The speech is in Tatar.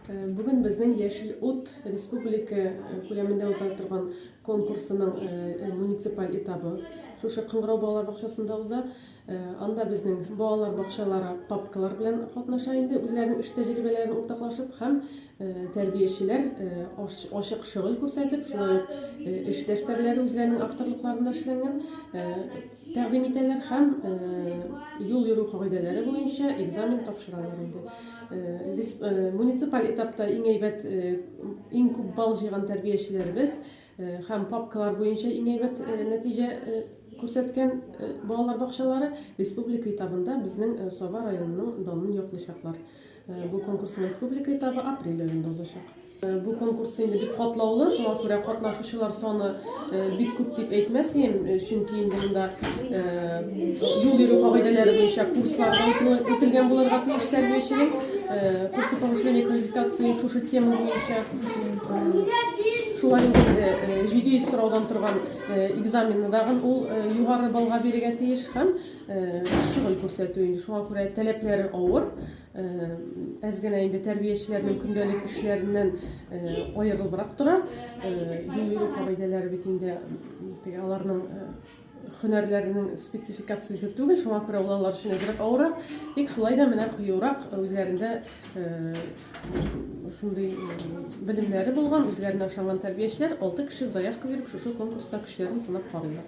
Бүген безнең Яшел ут республика күләмендә уза торган конкурсының муниципаль этабы шушы Кыңгырау балалар бакчасында уза. Анда безнең балалар бакчалары папкалар белән катнаша инде, үзләренең эш тәҗрибәләрен уртаклашып һәм тәрбиячеләр ачык шөгыль күрсәтеп, шулай ук эш дәфтәрләре үзләренең авторлыкларында эшләнгән. Тәкъдим итәләр һәм юл йөрү кагыйдәләре буенча экзамен тапшыралар инде. Муниципаль этапта иң әйбәт, иң күп балл җыйган тәрбиячеләребез һәм папкалар буенча иң әйбәт нәтиҗә күрсәткән балалар бакчалары республика этабында безнең Саба районының данын яклыйчаклар. Бу конкурс республика этабы апрель аенда узачак. Бу конкурс инде бик катлаулы, шуңа күрә катнашучылар саны бик күп дип әйтмәс идем, чөнки инде монда юл йөрү кагыйдәләре буенча курслар үтелгән булырга тиеш тәрбияченең. Курсы повышения квалификации шушы тема буенча шулай инде җиде йөз сораудан торган экзаменны дагын ул югары баллга бирергә тиеш һәм Шөгыль күрсәтү инде шуңа күрә таләпләре авыр. Әз генә инде тәрбиячеләрнең көндәлек эшләреннән аерылыбрак тора. Юл йөрү кагыйдәләре бит инде теге аларның һөнәрләренең спецификациясе түгел, шуңа күрә ул алар өчен әзрәк авыррак. Тик шулай да менә кыюрак үзләрендә шундый белемнәре булган, үзләренә ышанган тәрбиячеләр алты кеше заявка биреп шушы конкурста көчләрен сынап карыйлар.